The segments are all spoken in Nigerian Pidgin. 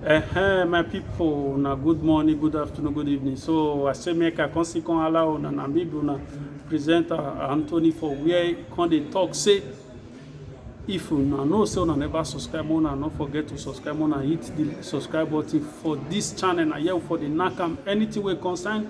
Ehem, my people, na good morning, good afternoon, good evening. So I say make I come see come allow una na me be una presenter Anthony for where he come dey talk say if una know say una never subscribe una no forget to subscribe una hit the subscribe button for this channel na here we for dey knack am anything wey concern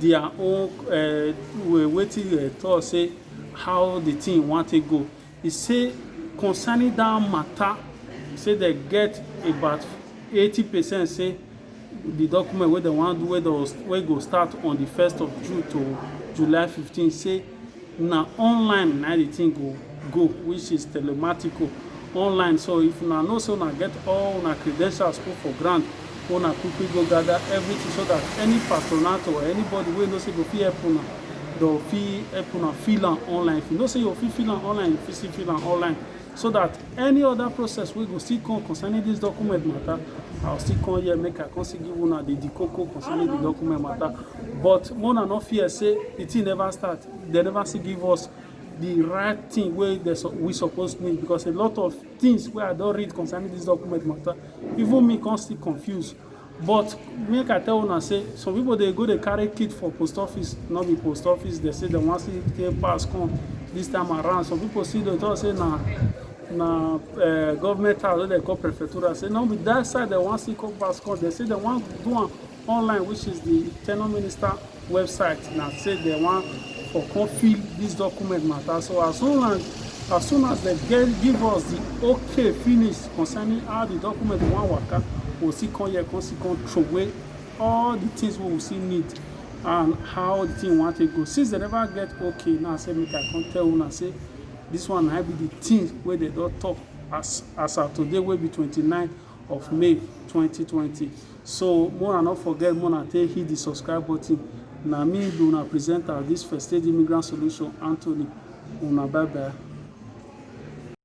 their own um wetin dem talk sey how de thing wan take go. E sey concerning dat matter sey dem get about eighty percent sey de document wey dem wan do wey go start on de first of June to July fifteen sey Na online na im the thing go go which is telematico online so if una know say una get all una credentials put for ground make una quick quick go gather everything so that any patronato or anybody wey you know say go fit help una dem go fit help una fill am online if you know say you go fit fill am online you fit still fill am online. so that any other process wey go still come concerning this document matter i will still come here make i come still give una the the koko concerning the document matter but mona no fear say the thing never start they never still give us the right thing wey they, we suppose need because a lot of things wey i don read concerning this document matter even me come still confuse But make I tell una say some people dey go dey carry kit for post office, no be post office dem say dem wan still take pass come this time around, some people still dey talk say na na um government house wey dem call prefectural say no be that side dem wan still come pass come, dem say dem wan do am online which is the tenure minister. website na say dem wan for come fill this document matter so as soon as as soon as dem get give us the okay finish concerning how the document wan waka we still come here come still come throw away all the things wey we still need and how the thing wan take go since dem never get okay now say make i come tell una say this one na be the thing wey dem don talk as as at today wey be twenty nine of May 2020. So make una no forget make una take hit the subscribe button. Na me be una presenter of this First Aid Immigrant Solution, Anthony. Una bye bye.